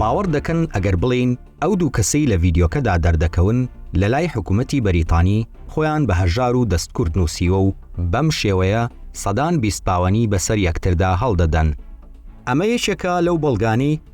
باوەڕ دەکەن ئەگەر بڵێین ئەو دوو کەسەی لە ڤیدیۆکەدا دەردەکەون لە لای حکوومەتی بەریتانی خۆیان بە هەژار و دەستکورد نووسیوە و بەم شێوەیە سەدان بیست پاوەنی بەسەر یەکتردا هەڵدەدەن ئەمە یەکێکە لەو بەڵگانەی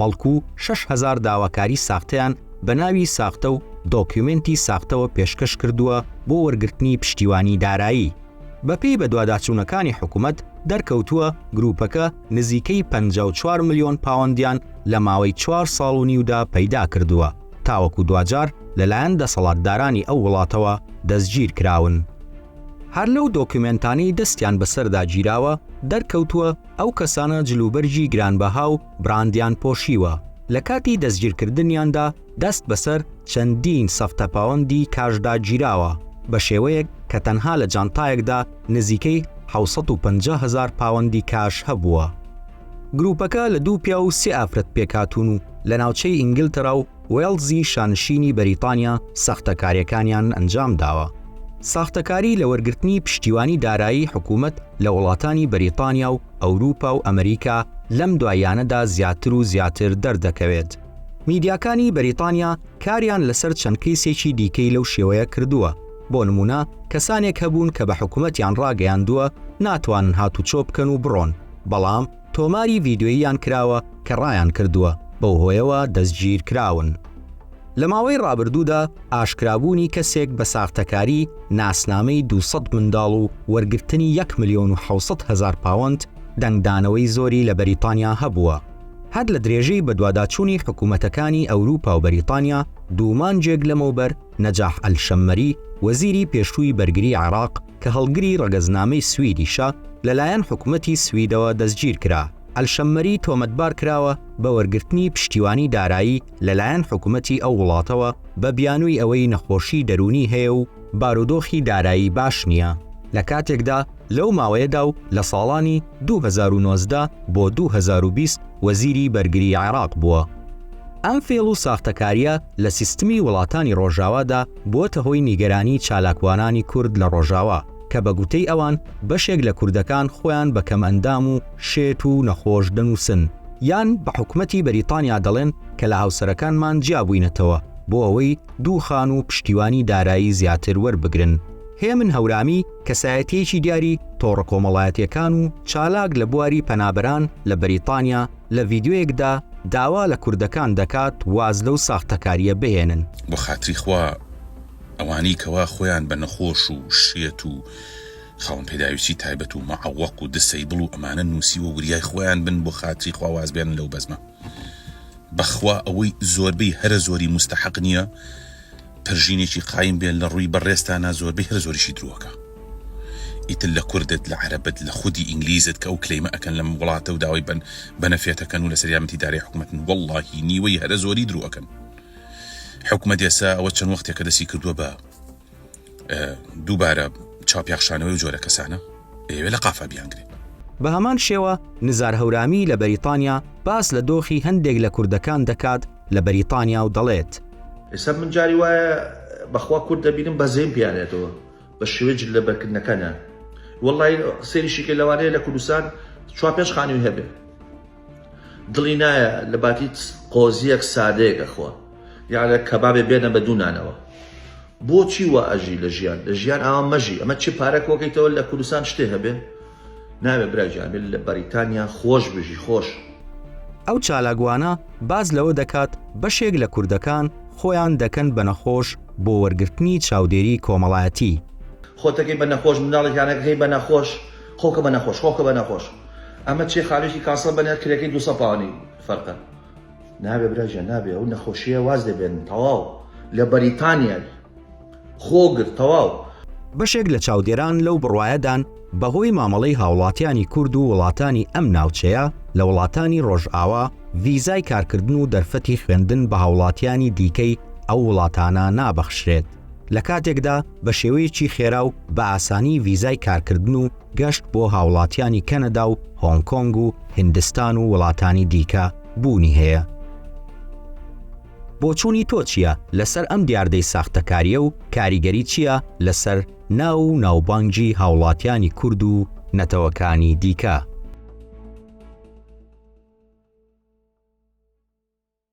بەڵکو شەش هەزار داواکاری ساختەیان بە ناوی ساختە و دۆکیومێنتی ساختەوە پێشکەش کردووە بۆ وەرگرتنی پشتیوانی دارایی. بەپێی بەدواداچوونەکانی حکومەت، دەرکەوتووە گروپەکە نزیکەی پەنجا و چوار ملیۆن پاوەندیان لە ماوەی چوار ساڵ و نیودا پەیدا کردووە، تاوەکو دواجار لەلایەن دەسەڵاتدارانی ئەو وڵاتەوە دەستگیر کراون. هەر لەو دۆکیومێنتانەی دەستیان بەسەردا گیراوە، دەرکەوتووە، ئەو کەسانە جلوبەرگی گرانبەها و براندیان پۆشیوە، لە کاتی دەستگیرکردنیاندا دەست بەسەر چەندین سەفتەپاوەندی کاشدا گیراوە، بە شێوەیەک کە تەنها لە جانتایەکدا نزیکەی حەوت سەد و پەنجا هەزار پاوەندی کاش هەبووە. گروپەکە لە دوو پیاو و سێ ئافرەت پێکهاتوون و لە ناوچەی ئینگلتەرا و وێڵزی شانشینی بەریتانیا ساختەکاریەکانیان ئەنجام داوە. ساختەکاری لە وەرگرتنی پشتیوانی دارایی حکومەت لە وڵاتانی بەریتانیا و ئەوروپا و ئەمریکا لەم دواییانەدا زیاتر و زیاتر دەردەکەوێت. میدیاکانی بەریتانیا کاریان لەسەر چەند کەیسێکی دیکەی لەو شێوەیە کردووە، بۆ نمونە کەسانێک هەبوون کە بە حکومەتیان ڕاگەیاندووە ناتوانن هاتوچۆ بکەن و بڕۆن، بەڵام. تۆماری ڤیدیۆییان کراوە کە ڕایانکردووە بەو هۆیەوە دەستگیرکراون. لە ماوەی ڕابردوودا ئاشکرابوونی کەسێک بە ساختەکاری ناسنامەی دوو سەد منداڵ و وەرگرتنی یەک ملیۆن و حەوت سەد هەزار پاوەند دەنگدانەوەی زۆری لە بەریتانیا هەبووە. هەر لە درێژەی بەدواداچوونی حکومەتەکانی ئەوروپا و بەریتانیا، دوو مانگێک لەمەوبەر نەجاح ئەلشەممەری، وەزیری پێشووی بەرگری عێراق، کە هەڵگری ڕەگەزنامەی سویدیشە، لەلایەن حکومەتی سویدەوە دەستگیرکرا. ئەلشەممەری تۆمەتبار کراوە بە وەرگرتنی پشتیوانی دارایی لەلایەن حکومەتی ئەو وڵاتەوە بە بیانووی ئەوەی نەخۆشی دەروونی هەیە و بارودۆخی دارایی باش نییە، لە کاتێکدا لەو ماوەیەدا و لە ساڵانی دوو هەزار و نۆزدە بۆ دوو هەزار و بیست وەزیری بەرگری عێراق بووە. ئەم فێڵ و ساختەکارییە لە سیستمی وڵاتانی ڕۆژاوادا، بۆتە هۆی نیگەرانی چالاکوانانی کورد لە ڕۆژاوا، کە بە گوتەی ئەوان بەشێک لە کوردەکان خۆیان بە کەمئەندام و شێت و نەخۆش دەنووسن، یان بە حکومەتی بەریتانیا دەڵێن کە لە هاوسەرەکانمان جیابووینەتەوە بۆ ئەوەی دوو خان و پشتیوانی دارایی زیاتر وەربگرن. هێمن هەورامی، کەسایەتییەکی دیاری تۆڕە کۆمەڵایەتییەکان و چالاک لە بواری پەنابەران لە بەریتانیا، لە ڤیدیۆیەکدا داوا لە کوردەکان دەکات واز لەو ساختەکاریە بهێنن. بۆخاتری خوا ئەوانەی کەوا خۆیان بە نەخۆش و شێت و خاوەن پێداویستی تایبەت و معەوەق و دسەیبڵ و ئەمانە نوسیوە وریای خۆیان بن بۆخاتری خوا واز بێنن لەو بەزمە بەخوا ئەوەی زۆربەی هەرە زۆری موستەحەق نیە پەرژینێکی قایم بێ لە ڕووی بە ڕێزتانا زۆربەی هەر زۆریشی درۆکە ئیتر لە کوردت لە عەرەبت لە خودی ئینگلیزت کە ئەو کلەیمە ئەکەن لەم وڵاتە و داوای بەن بەنەفێتەکەن و لەسەر یارمەتی دارای حکومەتن وەڵاهی نیوەی هەرە زۆری درۆکەن حکومەت ئێسا ئەوە چەند وەختێکە دەستی کردووە بە دووبارە چاوپیاخشانەوەی ئەو جۆرە کەسانە ئێوێ لە قافا بیانگرێ. بە هەمان شێوە نزار هەورامی لە بەریتانیا باس لە دۆخی هەندێک لە کوردەکان دەکات لە بەریتانیا و دەڵێت. ئێستا من جاری وایە بە خوا کورد دەبینم بەزەیم پێیان ئەتەوە بە شێوەی جل لەبەر کردنەکانیان وەڵڵایی سەیریشی کە لەوانەیە لە کوردستان چوار پێنج خانووی هەبێ. دڵی نایە لە باتیت قۆزیەک سادەیەک ئەخوا یان لە کەبابێ بێنە بە دوو نانەوە بۆچی وا ئەژی لە ژیان لە ژیان ئاوا مەژی ئەمە چی پارە کۆکەیتەوە لە کوردستان شتێ هەبێ ناوێ برا جامل لە بەریتانیا خۆش بژی خۆش ئەو چالاکوانە باس لەوە دەکات بەشێک لە کوردەکان خۆیان دەکەن بە نەخۆش بۆ وەرگرتنی چاودێری کۆمەڵایەتی. خۆتەکەی بە نەخۆش منداڵێکیانەکەی بە نەخۆش. خۆکە بە نەخۆش خۆکە بە نەخۆش ئەمە چیە خانویەکی کاسڵ بەنێر کرێکەی دوو سەد پاونی فەرقە. نابێ برا گیان نابێ ئەو نەخۆشیە واز لێ بێنن تەواو لە بەریتانیای خۆ گرت تەواو. بەشێک لە چاودێران لەو بڕوایەدان بەهۆی مامەڵەی هاوڵاتیانی کورد و وڵاتانی ئەم ناوچەیە لە وڵاتانی ڕۆژئاوا ڤیزای کارکردن و دەرفەتی خوێندن بە هاوڵاتیانی دیکەی ئەو وڵاتانە نابەخشرێت. لە کاتێکدا بە شێوەیەکی خێرا و بە ئاسانی ڤیزای کارکردن و گەشت بۆ هاوڵاتیانی کەنەدا و هۆنگ کۆنگ و هندستان و وڵاتانی دیکە بوونی هەیە بۆچوونی تۆ چییە لەسەر ئەم دیاردەی ساختەکاریە و کاریگەری چییە لەسەر ناو و ناوبانگی هاوڵاتیانی کورد و نەتەوەکانی دیکە؟